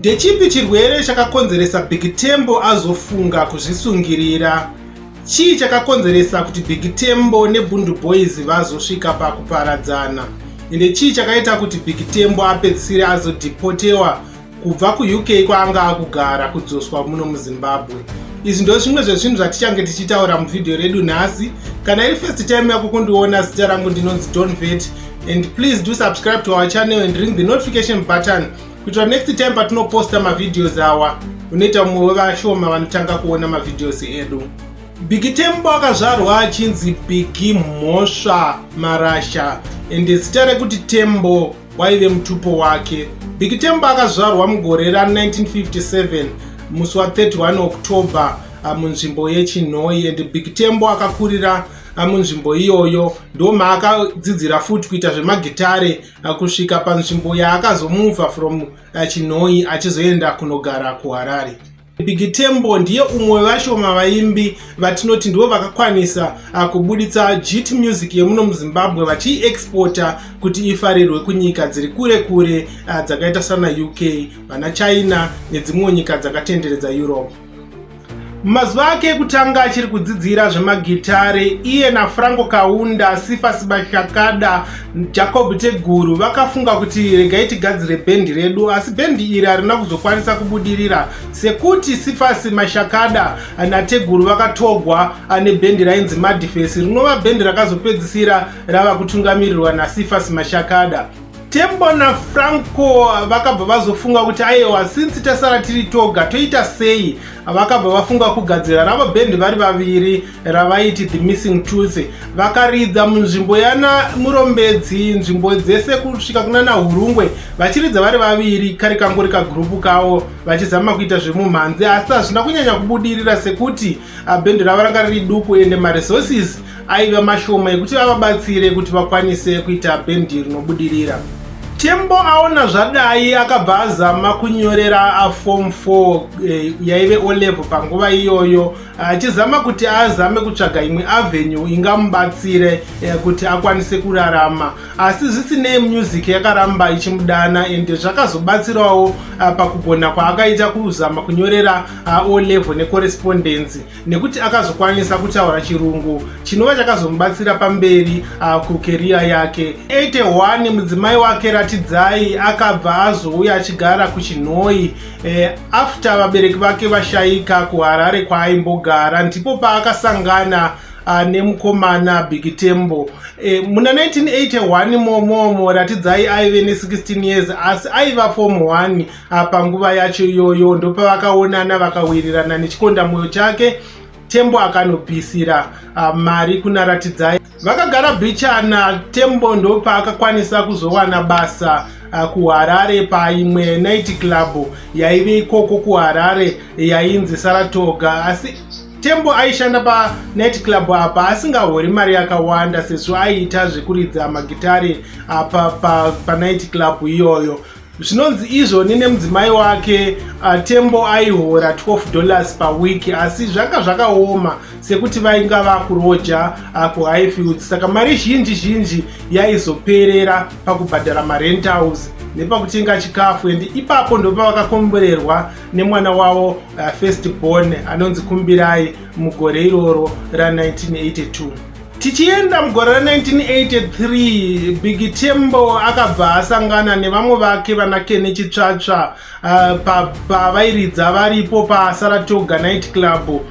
Ndechipi chirwere chakakonzeresa Big Tembo azofunga kuzvisungirira? Chii chakakonzeresa kuti Big Tembo neBundu Boys vazosvika pakuparadzana? Ende chii chakaita kuti Big Tembo apedzisire azodhipotewa kubva kuUK kwaanga akugara kudzoswa muno muZimbabwe? Izvi ndo zvimwe zvezvinhu zvatichange tichitaura muvhidhiyo redu nhasi. Kana iri first time yako kundiona, zita rangu ndinonzi Don Vet and please do subscribe to our channel and ring the notification button kuitira next time patinoposta mavideos awa unoita mumwe wevashoma vanotanga kuona mavideos edu bigi tembo akazvarwa achinzi bigi mhosva marasha ende zita rekuti tembo waive mutupo wake bigi tembo akazvarwa mugore ra 1957 musi wa 31 october ah, munzvimbo yechinhoi ende bigi tembo akakurira munzvimbo iyoyo ndomaakadzidzira futi kuita zvemagitare kusvika panzvimbo yaakazomuvha from uh, chinhoyi achizoenda kunogara kuharare big tembo ndiye umwe vashoma vaimbi vatinoti ndivo vakakwanisa uh, kubuditsa jit music yemuno muzimbabwe vachiiexporta kuti ifarirwe kunyika dziri kure kure uh, dzakaita sana uk vana china nedzimwewo nyika dzakatenderedza europe Mumazuva ake ekutanga achiri kudzidzira zvemagitare, iye naFranco Kaunda, Sifa Sibashakada, Jacob Teguru vakafunga kuti regai tigadzire bhendi redu, asi bhendi iri harina kuzokwanisa kubudirira sekuti Sifasi Mashakada naTeguru vakatogwa ane bhendi rainzi Madifesi rinova bhendi rakazopedzisira rava kutungamirirwa naSifasi Mashakada. Tembo naFranco vakabva vazofunga kuti ayewa since tasara tiri toga toita sei vakabva vafunga kugadzira ravo bhendi vari vaviri ravaiti the missing tooth vakaridza munzvimbo yana murombedzi nzvimbo dzese kusvika kunana hurungwe vachiridza vari vaviri kari kangori kagrupu kavo vachizama kuita zvemumhanzi asi hazvina kunyanya kubudirira sekuti Ah, bhendi ravo ranga riri duku ende maresources aiva mashoma ekuti vavabatsire kuti vakwanise kuita bhendi rinobudirira tembo aona zvadai akabva azama kunyorera afom 4 eh, yaive olevo panguva iyoyo achizama kuti azame kutsvaga imwe avenue ingamubatsire eh, kuti akwanise kurarama asi zvisinei music yakaramba ichimudana ende zvakazobatsirawo ah, pakugona kwaakaita kuzama kunyorera O level necorrespondence nekuti akazokwanisa kutaura chirungu chinova chakazomubatsira pamberi kukeriya yake 81 mudzimai wake ratidzai akabva azouya achigara kuchinhoi e, after vabereki vake vashaika kuharare kwaaimbogara ndipo paakasangana uh, nemukomana big tembo e, muna 1981 momomo ratidzai aive ne16 years asi aiva form 1 Ah, panguva yacho iyoyo ndopavakaonana vakawirirana nechikonda mwoyo chake tembo akanopisira ah, mari kuna ratidzai vakagara bichana tembo ndopaakakwanisa kuzowana basa ah, kuharare paimwe night club yaive ikoko kuharare yainzi saratoga asi tembo aishanda panight club apa asingahori mari yakawanda sezvo aiita zvekuridza magitare apa panight club iyoyo zvinonzi izvoni nemudzimai wake uh, tembo aihora 12 dollars pawiki asi zvanga zvakaoma sekuti vainga vakuroja uh, kuhighfield saka mari zhinji zhinji yaizoperera pakubhadhara marentals nepakutenga chikafu and ipapo ndopavakakomborerwa nemwana wavo uh, first born anonzi kumbirai mugore iroro ra 1982 Tichienda mugore ra 1983 Big Tembo akabva asangana nevamwe vake vana Kene Chitsvatsva uh, pavairidza varipo paSaratoga Night Club uh,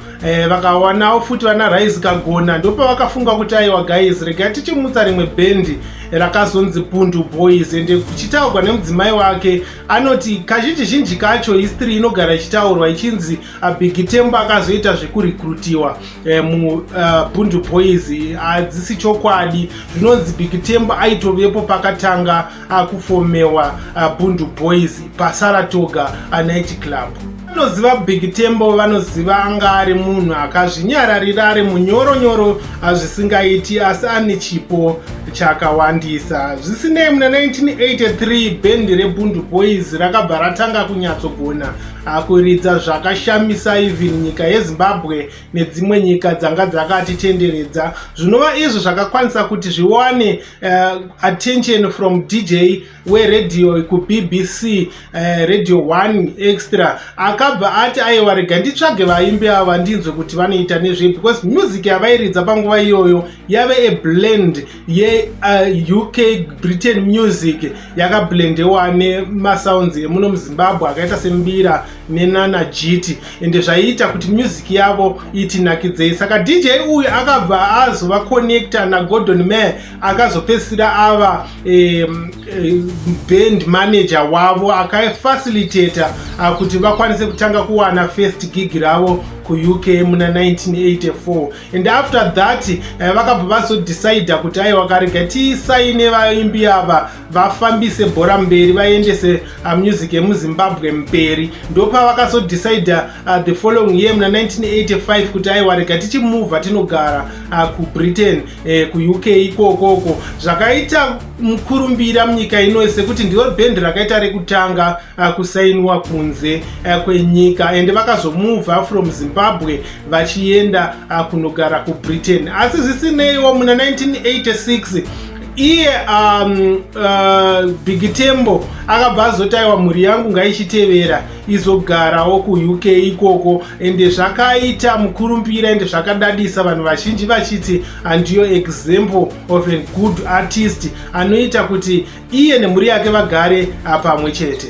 vakawanawo futi vana Rise Kagona ndopavakafunga kuti aiwa guys rega tichimutsa rimwe bhendi rakazonzi Pundu Boys ende kuchitaurwa nemudzimai wake anoti kazhinji zhinji kacho history inogara ichitaurwa ichinzi uh, Big Tembo akazoita zvekurekrutiwa Eh, mubundu eh, boys hadzisi chokwadi zvinonzi big tembo aitovepo pakatanga akufomewa eh, bundu boys pasaratoga night club vanoziva big tembo vanoziva anga ari munhu akazvinyararira ari munyoronyoro zvisingaiti asi ane chipo chakawandisa zvisinei muna 1983 bhendi rebundu boys rakabva ratanga kunyatsogona Akuridza zvakashamisa even nyika yeZimbabwe nedzimwe nyika dzanga dzakatitenderedza zvinova izvo zvakakwanisa kuti zviwane uh, attention from DJ weRadio kuBBC uh, eh, Radio 1 Extra akabva ati aiwa rega nditsvage vaimbi ava ndinzwe kuti vanoita nezvei because music yavairidza panguva iyoyo yave a blend yeuk uh, britain music yakablendewa nemasounds emuno muzimbabwe akaita sembira nenana jiti ende zvaiita kuti music yavo itinakidzei saka dj uyu akabva azova connecta nagordon mare akazopedzisira ava um, band manager wavo akafacilitata uh, kuti vakwanise kutanga kuwana first gig ravo kuuk muna 1984 and after that eh, vakabva vazodecider kuti aiwa karega tisaine vaimbi ava vafambise bhora mberi vaendese ah, music yemuzimbabwe mberi ndopavakazodecider ah, the following year muna 1985 kuti aiwa rega tichimuvha tinogara ah, kubritain eh, kuuk ikokoko zvakaita mukurumbira munyika ino sekuti ndiro bhendi rakaita rekutanga uh, kusainiwa kunze uh, kwenyika and vakazomuvha from zimbabwe vachienda uh, kunogara kubritain asi zvisineiwo muna 1986 iye um, uh, bigitembo akabva azotaiwa mhuri yangu ngaichitevera izogarawo kuuk ikoko ende zvakaita mukurumbira ende zvakadadisa vanhu vazhinji vachiti handiyo example of a good artist anoita kuti iye nemhuri yake vagare apamwe chete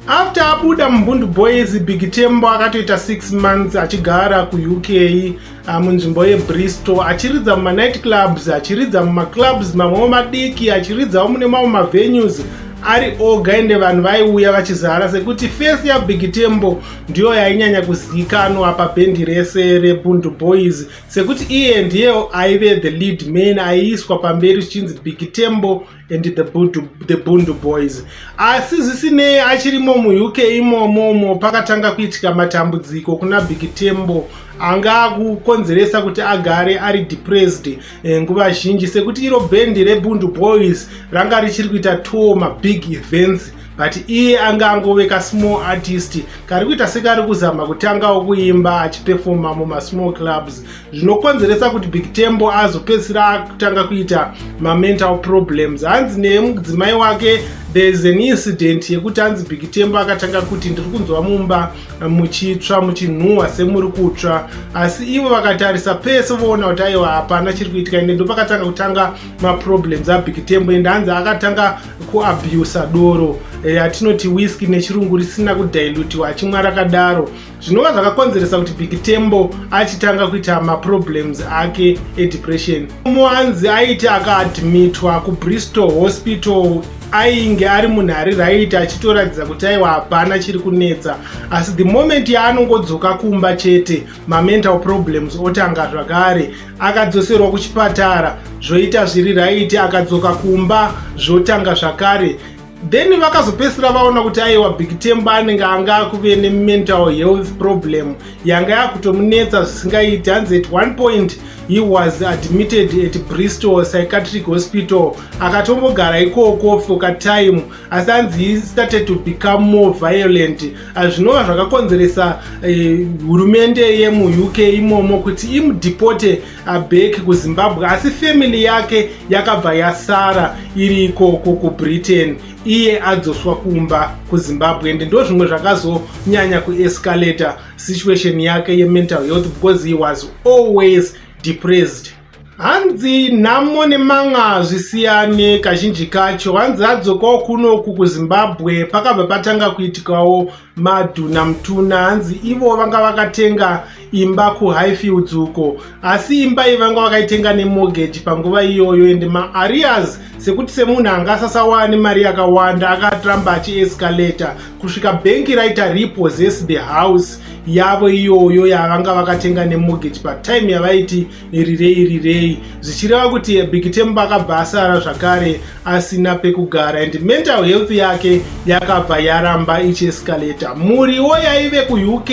after abuda mumbundu boys big tembo akatoita 6 months achigara kuuk ah, munzvimbo yebristol achiridza mumanight clubs achiridza mumaclubs mamwewo madiki achiridzawo mune mamwe mavenues ari oga ende vanhu vaiuya vachizara sekuti fesi yabig tembo ndiyo yainyanya kuzivikanwa pabhendi rese rebundu boys sekuti iye ndiyewo aive the lead man aiiswa pamberi zvichinzi big tembo and the bundu, the bundu boys asi zvisinei achirimo muuk imomomo pakatanga kuitika matambudziko kuna big tembo anga akukonzeresa kuti agare ari depressed eh, nguva zhinji sekuti iro bhendi rebundu boys ranga richiri kuita two mabig events but iye anga angove kasmall artist kari kuita sekari kuzama kutangawo kuimba achipefoma mumasmall clubs zvinokonzeresa kuti big tembo azopedzisira akutanga kuita mamental problems hanzi nemudzimai wake thereis an incident yekuti hanzi big tembo akatanga kuti ndiri kunzwa mumba muchitsva muchinhuhwa semuri kutsva asi ivo vakatarisa pese voona kuti aiwa hapana chiri kuitika ende ndopakatanga kutanga maproblems abig tembo ende hanzi akatanga kuabusa doro ratinoti eh, whisky nechirungu risina kudilutiwa achimwa rakadaro zvinova zvakakonzeresa kuti big tembo achitanga kuita maproblems ake edepression muwanzi aiti akaadmitwa kubristol hospital ainge ari munhu ari raiti achitoratidza kuti aiwa hapana chiri kunetsa asi the moment yaanongodzoka kumba chete mamental problems otanga zvakare akadzoserwa kuchipatara zvoita zviri raiti akadzoka kumba zvotanga zvakare then vakazopedzisira vaona kuti aiwa big temba anenge anga akuve nemental health problem yanga yakutomunetsa zvisingaiti hanzi at one point he was admitted at bristol psychiatric hospital akatombogara ikoko for katime asi anzi started to become more violent ah, zvinova zvakakonzeresa eh, hurumende yemuuk imomo kuti imudepote ah, back kuzimbabwe asi family yake yakabva yasara iri ikoko kubritain iye adzoswa kumba kuzimbabwe and ndo zvimwe zvakazonyanya kuescalator situation yake yemental health because he was always depressed hanzi nhamo nemanga hazvisiyane kazhinji kacho hanzi adzokawo kunoku kuzimbabwe pakabva patanga kuitikawo madhuna mutuna hanzi ivo vanga vakatenga imba kuhighfields uko asi imba iyi vanga vakaitenga nemorgage panguva iyoyo ende maarias sekuti semunhu anga asasawane mari yakawanda akaramba achiescalator kusvika bhengi raita repossess the house yavo iyoyo yavanga vakatenga nemorgage patime yavaiti nerirei rirei zvichireva kuti bikitemba akabva asara zvakare asina pekugara and mental health yake yakabva yaramba ichiescalata muriwo yaive kuuk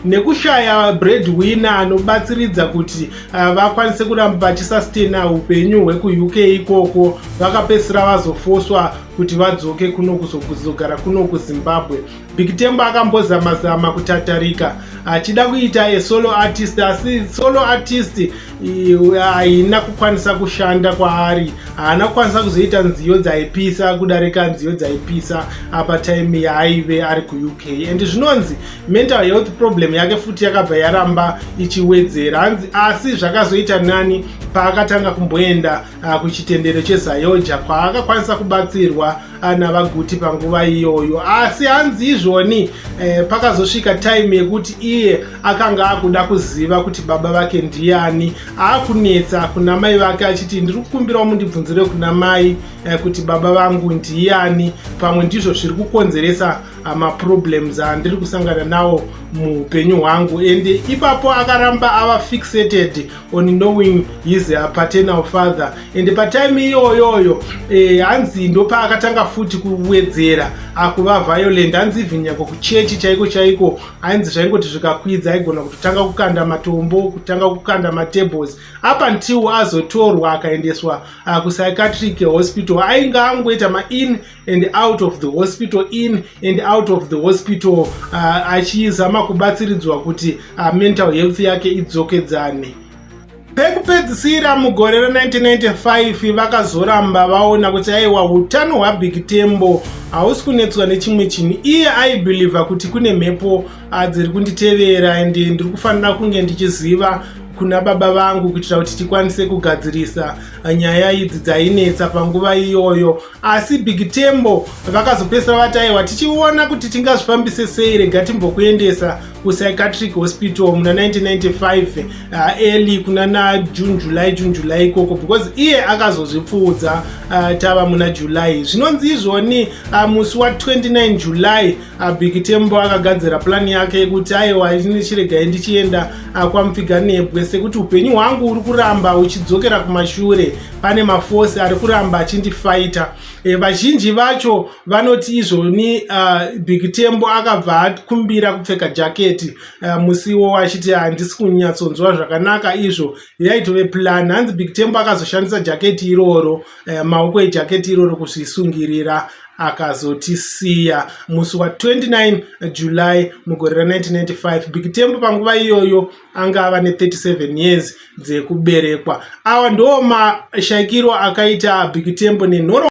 nekushaya breadwinner anobatsiridza kuti uh, vakwanise kuramba vachisastena upenyu hwekuuk ikoko vakapedzisira vazofoswa kuti vadzoke kuno kuzogara kuno kuzimbabwe Big Tembo akambozama zama kutatarika achida kuita a solo artist asi solo artist haina kukwanisa kushanda kwaari haana kukwanisa kuzoita nziyo dzaipisa kudarika nziyo dzaipisa apa time yaaive ari kuuk and zvinonzi mental health problem yake futi yakabva yaramba ichiwedzera hanzi asi zvakazoita nani paakatanga kumboenda ah, kuchitendero chezayoja kwaakakwanisa kubatsirwa ana vaguti panguva iyoyo asi hanzi izvoni eh, pakazosvika time yekuti iye akanga akuda kuziva kuti baba vake ndiani akunetsa kuna mai vake achiti ndiri kukumbirawo mundibvunzire kuna mai eh, kuti baba vangu ndiani pamwe ndizvo zviri kukonzeresa ah, maproblems andiri kusangana nawo muupenyu hwangu ende ipapo akaramba ava fixated on knowing his uh, paternal father and patime iyoyoyo eh, hanzi ndopaakatanga futi kuwedzera akuva violent hanzi even nyange kuchechi chaiko chaiko ainzi zvaingoti zvikakwidza aigona kutotanga kukanda matombo kutanga kukanda matables up until azotorwa akaendeswa uh, kupsychiatric hospital ainge angoita main and out of the hospital in and out of the hospital uh, achizama kubatsiridzwa kuti uh, mental health yake idzokedzane pekupedzisira mugore ra1995 vakazoramba vaona kuti aiwa utano hwabig tembo hausi kunetswa nechimwe chinhu iye aibhilivha kuti kune mhepo ah, dziri kunditevera and ndiri kufanira kunge ndichiziva kuna baba vangu kuitira kuti tikwanise kugadzirisa nyaya idzi dzainetsa panguva iyoyo asi big tembo vakazopesera vati aiwa tichiona kuti tingazvifambise sei rega timbokuendesa kupsychiatric hospital muna 1995 uh, early kuna na june july june july ikoko because iye akazozvipfuudza uh, tava muna july zvinonzi izvoni uh, musi wa 29 july uh, big tembo akagadzira plani yake yekuti aiwa chiregai ndichienda uh, kwamupfiganebwe sekuti upenyu hwangu uri kuramba uchidzokera kumashure pane mafosi ari kuramba achindifaita e, vazhinji vacho vanoti izvoni uh, ah, big tembo akabva akumbira kupfeka jaketi uh, ah, musiwo wachiti handisi kunyatsonzwa zvakanaka izvo yaitove plan hanzi big tembo akazoshandisa jaketi iroro uh, maoko ejaketi iroro kuzvisungirira akazotisiya musi wa 29 july mugore ra 1995 big tembo panguva iyoyo anga ava ne37 years dzekuberekwa awa ndo mashaikiro akaita big tembo nenhoro